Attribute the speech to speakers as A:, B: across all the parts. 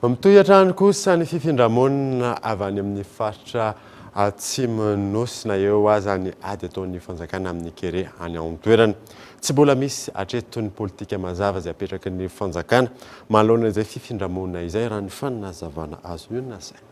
A: Mitohy hatrany kosa ny fifindra-monina avy any amin'ny faritra Atsimon'ny Nosy na eo aza ny ady ataon'ny fanjakana amin'ny kere any an-toerana. Tsy mbola misy hatreto ny politika mazava izay apetraky ny fanjakana manoloana izay fifindra-monina izay raha ny fanazavana azo nasaina.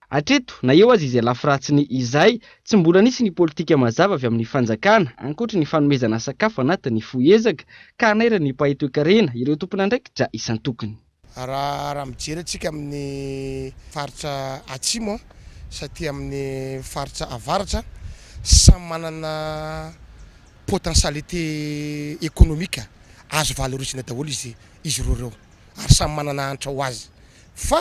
B: Hatreto, na eo aza izay lafiratsiny izay, tsy mbola nisy ny politika mazava avy amin'ny fanjakana, ankoatry ny fanomezana sakafo anatin'ny fohy ezaka, ka hanairana ny mpahay toekarena, ireo tompon'andraikitra isan-tokony. Raha
C: mijery antsika amin'ny faritra atsimo sy aty amin'ny faritra avaratra, samy manana potentialité économique azo valorisina daholo izy ireo ireo, ary samy manana hanitra ho azy, fa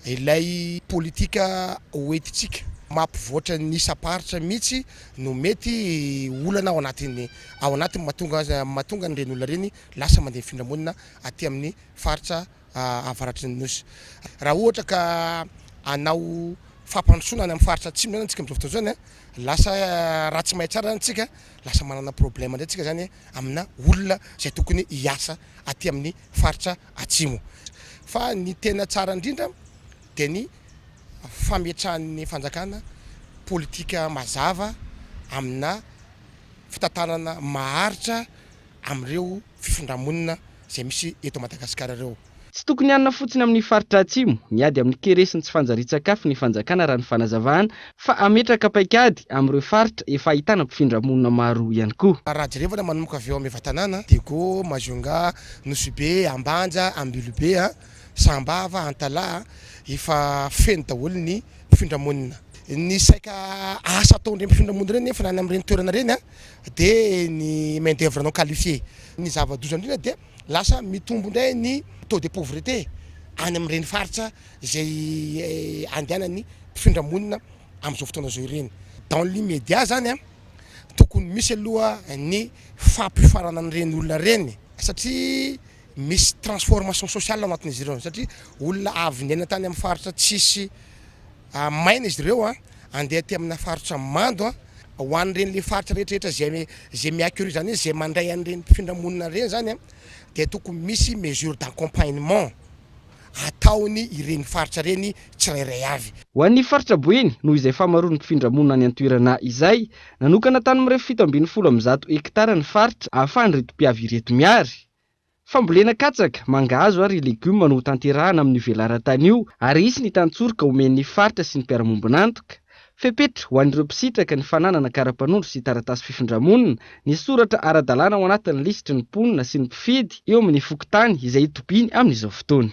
C: Ilay politika hoentintsika mampivoatra ny isam-paritra mihitsy no mety olana ao anatin'ny ao anatiny mahatonga azy mahatonga an'ireny olona ireny lasa mandeha mifindra monina aty amin'ny faritra avaratry ny Nosy. Raha ohatra ka hanao fampandrosoana any amin'ny faritra atsimo izany antsika amin'izao fotoana izao dia lasa raha tsy may tsara isika lasa manana problème indray isika izany amina olona izay tokony hiasa aty amin'ny faritra Atsimo. Fa ny tena tsara indrindra dia ny fametrahan'ny fanjakana politika mazava amina fitantanana maharitra amin'ireo fifindra-monina izay misy eto Madagasikara ireo. Tsy tokony hanina
B: fotsiny amin'ny faritra Atsimo, miady amin'ny kere sy ny tsy fanjarian-tsakafo ny fanjakana raha ny fanazavana Fa hametraka paikady amin'ireo faritra efa ahitana mpifindra monina maro ihany koa. Rahajerevana manomboka
C: avy eo amin'ny evatanàna, Diego, Majunga, Nosy-Be, Ambanja, Ambilobe, Sambava, Antalaha, efa feno daholo ny mpifindra monina. Ny saika asa ataon'ireny mpifindra monina ireny nefa any amin'ireny toerana ireny dia ny main d'oeuvre non qualifié. Ny zava-doza indrindra dia lasa mitombo indray ny taux de pauvreté any amin'ireny faritra izay andehanan'ny mpifindra monina amin'izao fotoana izao ireny. Dans l'immédiat izany an, tokony misy aloha ny fampiofanana an'ireny olona ireny satria misy transformation sociale ao anatin'izy ireo satria olona avy niaina tany amin'ny faritra tsisy maina izy ireo an, andeha aty amina faritra mando an, ho an'ireny le faritra rehetrarehetra izay izay mi-accueillir izany hoe izay mandray an'ireny mpifindra monina ireny izany an dia tokony misy mesure d'accompagnement ataony ireny faritra ireny tsirairay avy. Ho an'ny faritra Boeny,
B: noho izay fahamaroan'ny mpifindra monina any an-toerana izay, nanokana tany mirefy fito ambin'ny folo amby zato hektara ny faritra ahafahan'ireto mpiavy ireto miary. Fambolena katsaka, mangahazo ary legioma no hotanterahana amin'io velaran-tany io ary hisy ny tany tsorika omen'ny faritra sy ny mpiara-miombon'antoka. Fepetra ho an'ireo mpisitraka ny fananana kara-panondro sy taratasy fifindra-monina, ny soratra ara-dalàna ao anatin'ny lisitry ny mponina sy ny mpifidy eo amin'ny fokontany izay itobiany amin'izao fotoana.